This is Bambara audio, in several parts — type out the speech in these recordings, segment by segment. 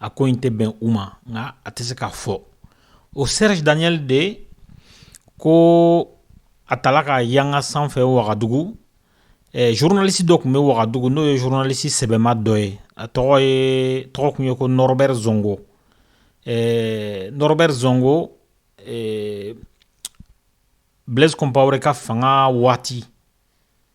a ko in tɛ bɛn u ma nka a tɛ se k'a fɔ o serge daniel de ko a tala ka yanga sanfɛ wagadugu eh, journaliste dɔ tun bɛ wagadugu n'o ye journaliste sɛbɛma dɔ ye a tɔgɔ ye tɔgɔ tun ye ko norbert zongo eh, norbert zongo eh, blaise compaoré ka fanga waati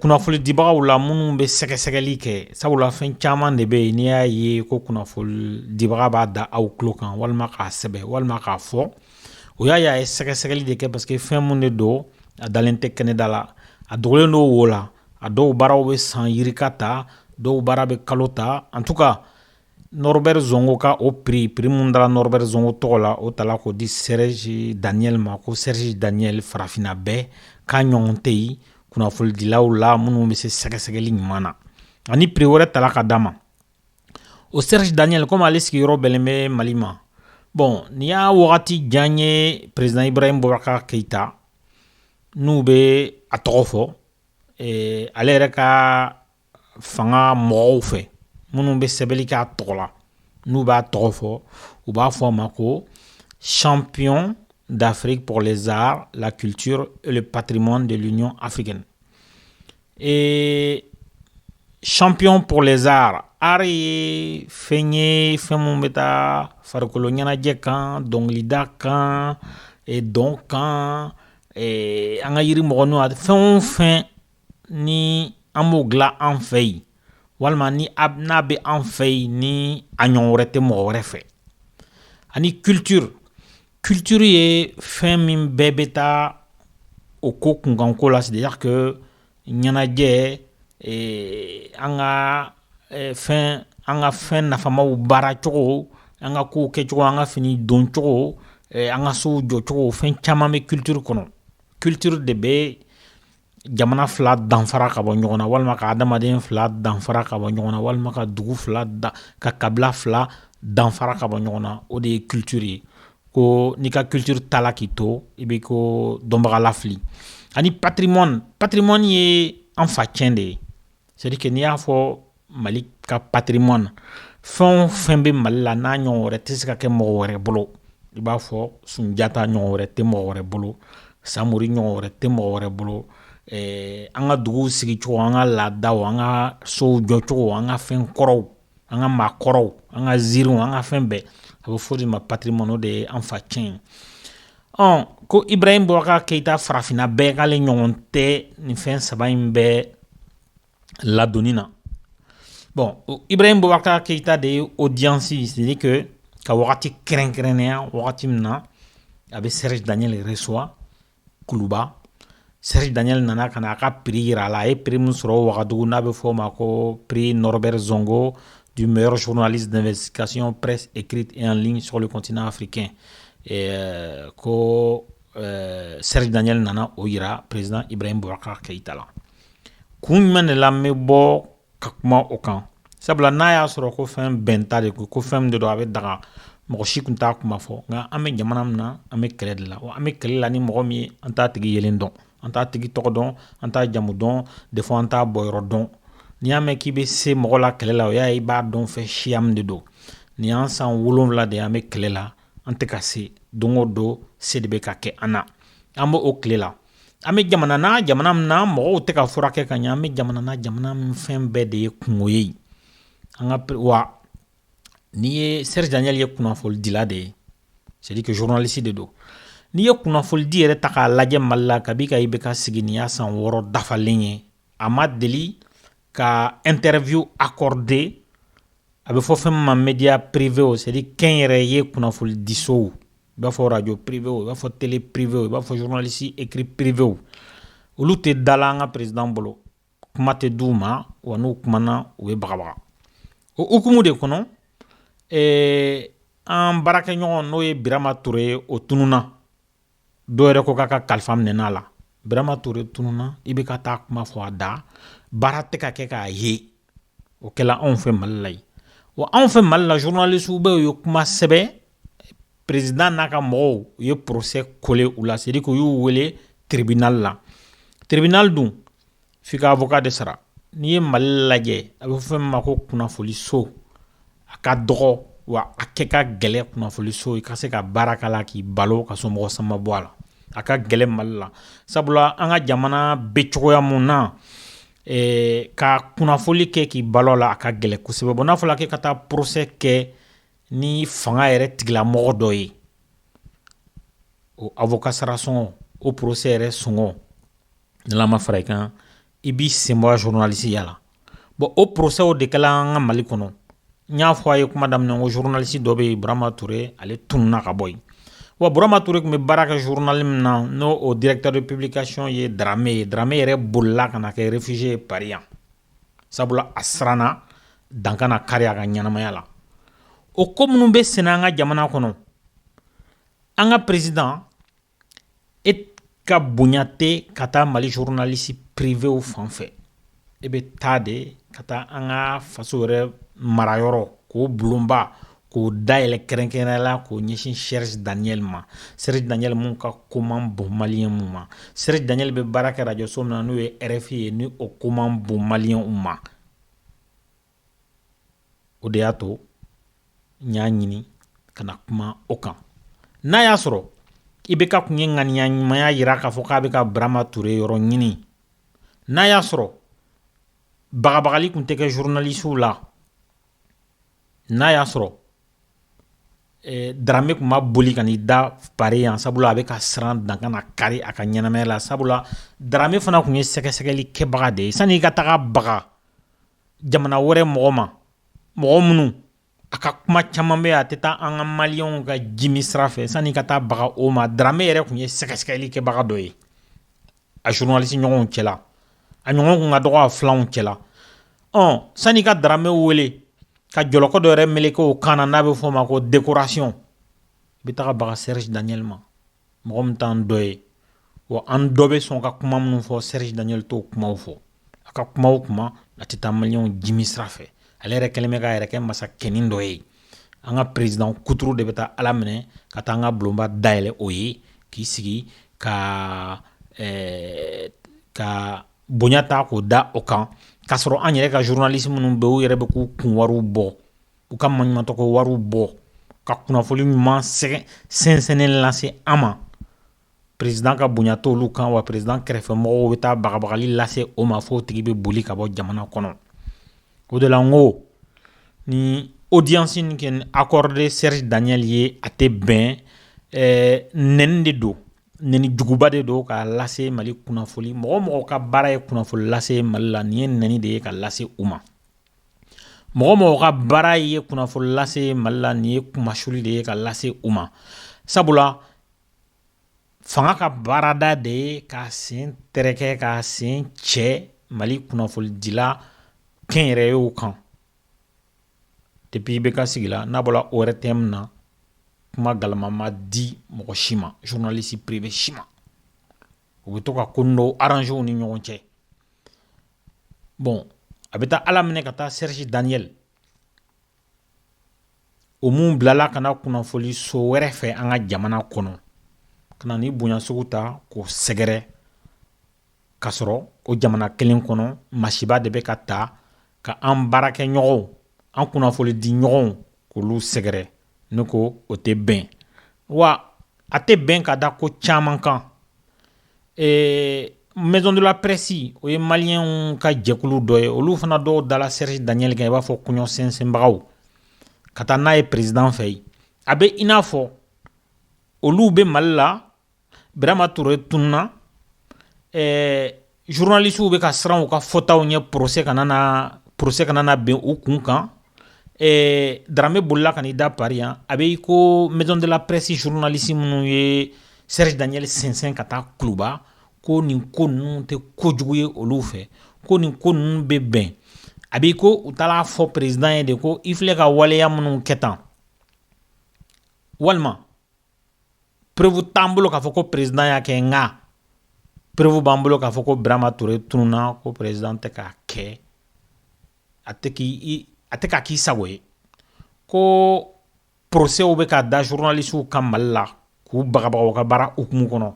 kunnafoni dibagaw la minnu bɛ sɛgɛsɛgɛli kɛ sabula fɛn caman de bɛ yen n'i y'a ye ko kunnafoni dibaga b'a da aw tulo kan walima k'a sɛbɛn walima k'a fɔ o y'a ye a ye sɛgɛsɛgɛli de kɛ parce que fɛn mun de don a dalen tɛ kɛnɛda la a dogolen don wo la a dɔw baaraw bɛ san yirika ta dɔw baara bɛ kalo ta en tout cas Nɔrɔri zgɔ ka o pere pereirimmu da nɔrɔɛɛrɛ zgɔ tɔgɔ la o ta k'o di sɛrɛsi daniɛlɛli ma ko sɛrisi daniɛlɛli farafinna bɛɛ k'a ɲɔgɔn tɛ yen kunnafonidilaw la minnu bɛ se sɛgɛsɛgɛli ɲuman na ani pere wɛrɛ ta ka d a ma o sɛrisi daniɛlɛli kɔmi ale sigiyɔrɔ yɔrɔ bɛn bɛ mali ma bɔn nin y'a wagati jan ye perezd ira in bɔ ka keyitayita n'u bɛ a tɔgɔ fɔ ale yɛrɛ ka fanga mɔgɔw fɛ minnu bɛ sɛbɛnni kɛ a tɔgɔ la n'u b'a tɔgɔ fɔ u b'a fɔ a ma ko champion d'Afrique pour les arts, la culture et le patrimoine de l'Union africaine. Et champion pour les arts art ye fɛn ye fɛn mun bɛ taa farikolo ɲɛnajɛ kan dɔnkilida kan dɔn kan an ka yiri mɔgɔninw a fɛn o fɛn ni an b'o dilan an fɛ yen walima ni n'a bɛ an fɛ yen ni a ɲɔgɔn wɛrɛ tɛ mɔgɔ wɛrɛ fɛ ani culture culture ye fɛn min bɛɛ bɛ taa o ko kunkanko la c'est-à-dire que ɲɛnajɛ an ka fɛn nafamaw baaracogo an ka kow kɛcogo an ka fini doncogo an ka sow jɔcogo fɛn caman bɛ culture kɔnɔ culture de bɛ jamana fila danfara ka bɔ ɲɔgɔn na walima ka adamaden fila danfara ka bɔ ɲɔgɔn na walima ka dugu fila ka kabila fila danfara ka bɔ ɲɔgɔn na o de ye culture ye ko n'i ka culture tala k'i to i bɛ ko dɔnbaga lafili ani patrimoine patrimoine ye an fa ciyɛn de ye c'est-à-dire que n'i y'a fɔ mali ka patrimoine fɛn o fɛn bɛ mali la n'a ɲɔgɔn wɛrɛ tɛ se ka kɛ mɔgɔ wɛrɛ bolo i b'a fɔ sunjata ɲɔgɔn wɛrɛ tɛ mɔgɔ wɛrɛ bolo samori ɲɔgɔn wɛrɛ tɛ mɔgɔ wɛrɛ bolo eh, an ka duguw sigicogo an ka laadaw an ka sow jɔcogo an ka fɛn kɔrɔw an ka maakɔrɔw an ka ziiriw an ka fɛn bɛɛ a bɛ fɔ de ma patrimoine o de ye an fa tiɲɛ ɔn ko ibrahim boubacar keita farafinna bɛɛ k'ale ɲɔgɔn tɛ nin fɛn saba in bɛɛ ladonni na bon ibrahim boubacar keita de ye audience c'est à dire que ka wagati kɛrɛnkɛrɛnnenya wagati min na a bɛ serge daniel reçoit kuluba serge daniel nana ka na a ka prix yira a la a ye prix min sɔrɔ wagadugu n'a bɛ fɔ o ma ko prix norbert zongo du meilleur journaliste d'investigation presse écrite et en ligne sur le continent africain eh, ko eh, serge daniel nana o yira président ibrahim boubacar keita la kun jumɛn de la n bɛ bɔ ka kuma o kan sabula n'a y'a sɔrɔ ko fɛn bɛnta de ko fɛn min de don a bɛ daga mɔgɔ si tun t'a kuma fɔ nka an bɛ jamana min na an bɛ kɛlɛ de la an bɛ kɛlɛ la ni mɔgɔ min ye an t'a tigi yelen dɔn an t'a tigi tɔgɔ dɔn an t'a jamu dɔn des fois an t'a bɔyɔrɔ dɔn n'i y'a mɛn k'i bɛ se mɔgɔ la kɛlɛ la o y'a i b'a dɔn fɛn siya min de don nin y'an san wolonwula de an bɛ kɛlɛ la an tɛ ka se don o don se de bɛ ka kɛ an na an b'o tile la An bɛ jamana na jamana min na mɔgɔw tɛ ka furakɛ ka ɲɛ an bɛ jamana na jamana min fɛn bɛɛ de ye kunko ye an kan wa n'i ye serge daniel ye kunnafonidila de ye c'est à dire que journaliste de don n'i ye kunnafonidi yɛrɛ ta k'a lajɛ mali la kabi ka ibk sigi nin y'a san wɔɔrɔ dafalen ye a ma deli ka interview accorder a bɛ fɔ fɛn min ma media privew c'est à dire kɛnyɛrɛye kunnafoni disow i b'a fɔ radio privew i b'a fɔ tele privew i b'a fɔ journaliste écrit privew olu tɛ da la an ka président bolo kuma tɛ d'u ma wa n'u kumana u bɛ bagabaga o hukumu de kɔnɔ ɛɛ an baarakɛɲɔgɔn n'o ye birama ture ye o tununa dɔw yɛrɛ ko k'a ka kalifa minɛn'a la birama toure tununna ibk t'a kuma fɔ a da baara tɛ ka kɛ k'a ye o kɛla anw fɛ mali la yan wa anw fɛ mali la journalistew bɛ u ye kuma sɛbɛn président n'a ka mɔgɔw u ye procès coller u la c'est à dire que u y'u wele tribunal la tribunal dun f'i ka avocat de sara n'i ye mali lajɛ a bɛ fɔ fɛn min ma ko kunnafoliso a ka dɔgɔ wa a kɛ ka gɛlɛ kunnafoliso i ka se ka baara k'a la k'i balo ka somɔgɔ sama bɔ a la a ka gɛlɛ mali la sabula an ka jamana bɛ cogoya min na eh, ka kunnafoli kɛ k'i balo a la a ka gɛlɛ kosɛbɛ bon n'a fɔla k'e ka taa procès kɛ ni fanga yɛrɛ tigilamɔgɔ dɔ ye o avocat sara sɔngɔ o procès yɛrɛ sɔngɔ N'Ala ma fara i kan i b'i senbɔ journaliste ya la bon o procès w de kɛla an ka Mali kɔnɔ n y'a fɔ a ye kuma daminɛ n ko journaliste dɔ bɛ yen Burama Ture ale tununa ka bɔ yen wa Burama Ture tun bɛ baara kɛ journal min na n'o o directeur de publication ye Darame ye Darame yɛrɛ bolila ka na kɛ réfugié ye Paris yan sabula a siranna dan kana kari a ka ɲɛnamaya la o ko minnu bɛ senna an ka jamana kɔnɔ an ka président E ka bonya tɛ ka taa Mali journaliste privéw fan fɛ e bɛ taa de ka taa an ka faso yɛrɛ marayɔrɔ k'o bulonba k'o dayɛlɛ kɛrɛnkɛrɛnnenya la k'o ɲɛsin Serge Daniel ma Serge Daniel mun ka ko man bon maliyɛnw ma Serge Daniel bɛ baara kɛ rajoso min na n'o ye RFI ye ni o ko man bon maliyɛnw ma o de y'a to n y'a ɲini ka na kuma o kan n'a y'a sɔrɔ IBK kun ye ŋaniya ɲumanya yira k'a fɔ k'a bɛ ka Burama Ture yɔrɔ ɲini n'a y'a sɔrɔ bagabagali kun tɛ kɛ journalistew la n'a y'a sɔrɔ eh, Darame kun ma boli ka n'i da Paris yan sabula a bɛ ka siran dan kana kari a ka ɲɛnamaya la sabula Darame fana kun ye sɛgɛsɛgɛli kɛbaga de ye sani i ka taga baga jamana wɛrɛ mɔgɔ ma mɔgɔ minnu a ka kuma caman bɛ a tɛ taa an ka maliyɛnw ka jimi sira fɛ sani i ka taa baga o ma Darame yɛrɛ kun ye sɛgɛsɛgɛli kɛbaga dɔ ye a journaliste ɲɔgɔnw cɛla a ɲɔgɔn kun ka dɔgɔ a filanw cɛla ɔ sani i ka Darame wele ka jɔlɔkɔ dɔ yɛrɛ meleke o kan na n'a bɛ f'o ma ko décoration i bɛ taa baga Serge Daniel ma mɔgɔ min t'an dɔ ye wa an dɔ bɛ sɔn ka kuma minnu fɔ Serge Daniel t'o kumaw fɔ a ka kuma o kuma a tɛ taa maliyɛnw jimi sira fɛ ale yɛrɛ kɛlen bɛ k'a yɛrɛ kɛ masakɛnin dɔ ye an ka président kuturu de bɛ taa a laminɛ ka taa an ka bulonba dayɛlɛ o ye k'i sigi ka bonya ta k'o da o kan k'a sɔrɔ an yɛrɛ ka journaliste minnu bɛ u yɛrɛ bɛ k'u kun wariw bɔ u ka maɲumantɔko wariw bɔ ka kunnafoni ɲuman sɛnsɛnnen lase an ma président ka bonya t'olu kan wa président kɛrɛfɛmɔgɔw bɛ taa bagabagali lase o ma fo tigi bɛ boli ka bɔ jamana kɔnɔ o de la n ko ni audience in kɛ accordé Serge Daniel ye a tɛ bɛn nɛni de don nɛni juguba de don k'a lase Mali kunnafoni mɔgɔ mɔgɔw ka baara ye kunnafoni lase Mali la nin ye nɛni de ye k'a lase u ma mɔgɔ mɔgɔ ka baara ye kunnafoni lase mali la nin ye kunmasuli de ye ka lase u ma sabula fanga ka baarada de ye k'a sen tɛrɛkɛ k'a sen cɛ mali kunnafonidila kɛnyɛrɛyew kan depuis IBK sigila n'a bɔra ORTM na kuma galama ma di mɔgɔ si ma journaliste privé si ma u bɛ to ka ko nin dɔw arranger u ni ɲɔgɔn cɛ bon a bɛ taa a laminɛ ka taa Serge Daniel o min bilala ka na kunnafoli so wɛrɛ fɛ an ka jamana kɔnɔ ka na nin bonya sugu ta k'o sɛgɛrɛ ka sɔrɔ o jamana kelen kɔnɔ masiba de bɛ ka ta ka an baarakɛ ɲɔgɔnw an kunnafoli di ɲɔgɔnw k'olu sɛgɛrɛ ne ko o tɛ bɛn wa a tɛ bɛn ka da ko caman kan ɛɛ Maison de la Presse o ye maliyɛnw ka jɛkulu dɔ ye olu fana dɔw dala Serge Daniel kan i b'a fɔ kɔɲɔsɛnsɛnbagaw ka taa n'a ye président fɛ yen a bɛ i n'a fɔ olu bɛ mali la Birama Ture tununna ɛɛ journalistes bɛ ka siran u ka fɔtaw ɲɛ procès kana na bin u kun kan, ɛɛ Darame bolila ka n'i da Paris yan a bɛ i ko maison de la presse journalistes minnu ye Serge Daniel sɛnsɛn ka taa Kuluba ko nin ko ninnu tɛ ko jugu ye olu fɛ, ko nin ko ninnu bɛ bɛn a bɛ i ko u taal'a fɔ président ye de ko i filɛ ka waleya minnu kɛ tan walima preuve t'an bolo k'a fɔ ko président y'a kɛ nka preuve b'an bolo k'a fɔ ko birama ture tununna ko président tɛ k'a kɛ a a tɛ k'a k'i sago ye ko procès bɛ ka da journalistes kan mali la k'u bagabaga u ka baara hukumu kɔnɔ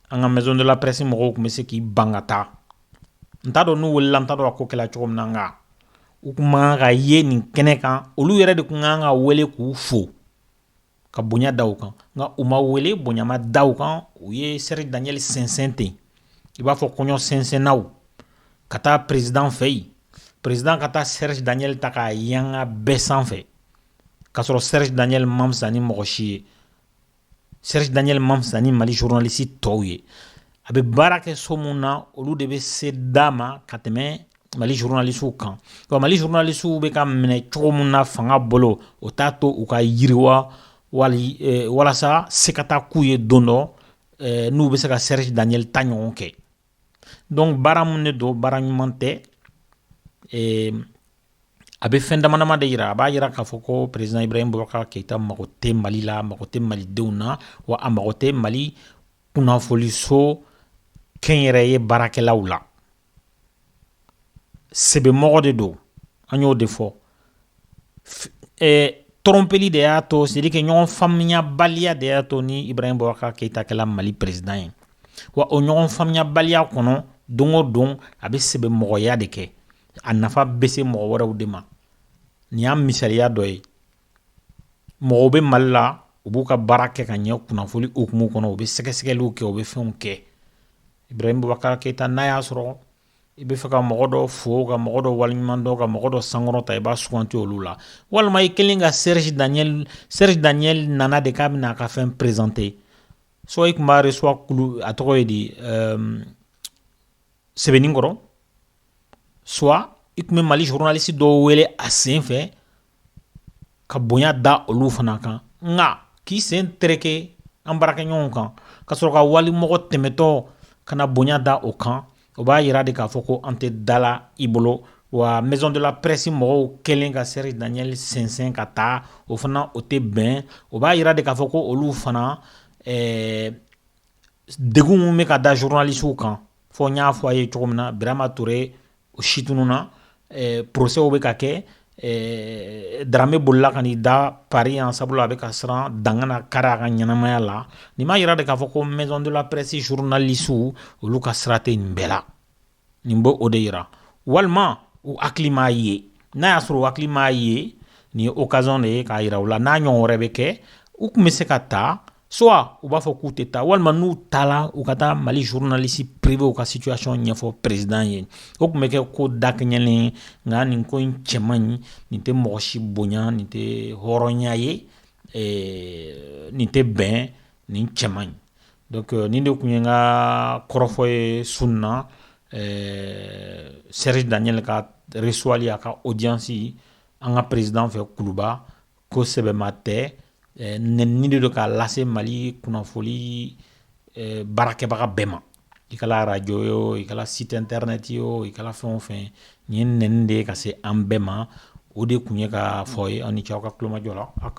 an ka maison de la presse mɔgɔw tun bɛ se k'i ban ka taa n t'a dɔn n'u welela n t'a dɔn a ko kɛla cogo min na nka u tun man ka ye nin kɛnɛ kan olu yɛrɛ de tun kan ka wele k'u fo ka bonya da u kan nka u ma wele bonya ma da u kan u ye Serge Daniel sɛnsɛn ten i b'a fɔ kɔɲɔ sɛnsɛnnaw ka taa perezidan fɛ yen perezidan ka taa Serge Daniel ta k'a yanga bɛɛ sanfɛ k'a sɔrɔ Serge Daniel ma fisa ni mɔgɔ si ye Serge Daniel ma fisa ni Mali journaliste tɔw ye a bɛ baara kɛ so min na olu de bɛ se d'a ma ka tɛmɛ mali journalistes kan nka Mali journalistes bɛ ka minɛ cogo min na fanga bolo o t'a to u ka yiriwa walasa se ka taa k'u ye don dɔ n'u bɛ se ka Serge Daniel ta ɲɔgɔn kɛ dɔnku baara mun de don baara ɲuman tɛ a bɛ fɛn dama dama de jira a b'a jira k'a fɔ ko perezidan ibrahim bubakar keyita mago tɛ mali la mago tɛ malidenw na wa a mago tɛ mali kunnafoliso kɛnyɛrɛye baarakɛlaw la sɛbɛmɔgɔ de don an y'o de fɔ tɔrɔnpeli de y'a to c'est-à-dire que ɲɔgɔn faamuyabaliya de y'a to ni ibrahim bubakar keyita kɛla mali perezidan ye wa o ɲɔgɔn faamuyabaliya kɔnɔ don o don a bɛ sɛbɛmɔgɔya de kɛ a nafa bɛ se mɔgɔ wɛrɛw de ma nin y'a misaliya dɔ ye mɔgɔw bɛ mali la u b'u ka baara kɛ ka ɲɛ kunnafoli hukumu kɔnɔ u bɛ sɛgɛsɛgɛliw kɛ u bɛ fɛnw kɛ ibrahim bubakar keyita n'a y'a sɔrɔ i bɛ fɛ ka mɔgɔ dɔ fo ka mɔgɔ dɔ waleɲuman dɔn ka mɔgɔ dɔ sankɔrɔta i b'a suganti olu la walima i kelen ka serge daniel serge daniel nana de k'a bɛna a ka fɛn perezante suwa i tun b'a resuwa kulu a tɔgɔ ye di ehm, sɛbɛninkɔrɔ suwa i tun bɛ mali zurunalisi dɔw wele a sen fɛ ka bonya da olu fana kan nka k'i sen tereke an baarakɛɲɔgɔnw kan ka sɔrɔ ka walimɔgɔ tɛmɛtɔ ka na bonya da o kan o b'a jira de k'a fɔ ko an tɛ dala i bolo wa maison de la presse mɔgɔw kɛlen ka serge daniel sɛnsɛn ka taa o fana o tɛ bɛn o b'a jira de k'a fɔ ko olu fana degun min bɛ ka da zurunalisiw kan fɔ n y'a fɔ a ye cogo min na birama ture o si tununna procès bɛ ka kɛ dramé bolila ka n'i da paris yan sabula a bɛ ka siran dan kana kari a ka ɲɛnamaya la nin b'a jira de k'a fɔ ko maison de la presse zurunalisiw olu ka sira tɛ nin bɛɛ la nin b'o de jira walima u hakili m'a ye n'a y'a sɔrɔ u hakili m'a ye nin ye okaziyɔn de ye k'a jira u la n'a ɲɔgɔn wɛrɛ bɛ kɛ u tun bɛ se ka taa suwa u b'a fɔ k'u tɛ taa walima n'u taara u ka taa mali zurunalisi privew ka sitiyasɔn ɲɛfɔ perezidan ye o tun bɛ kɛ ko dakɛɲɛlen nka nin ko in cɛ man ɲi nin tɛ mɔgɔ si bonya nin tɛ hɔrɔnya ye nin tɛ bɛn nin cɛ man ɲi dɔnku nin de tun ye n ka kɔrɔfɔ ye su in na serge daniel ka resuwali a ka odiyansi an ka perezidan fɛ kuluba ko sɛbɛma tɛ nɛnini de don k'a lase mali kunnafoni baarakɛbaga bɛɛ ma i kɛra arajo o i kɛra site internet o i kɛra fɛn o fɛn nin ye nɛnini de ye ka se an bɛɛ ma o de tun ye ka fɔ ye aw ni ce aw ka kulomajɔ la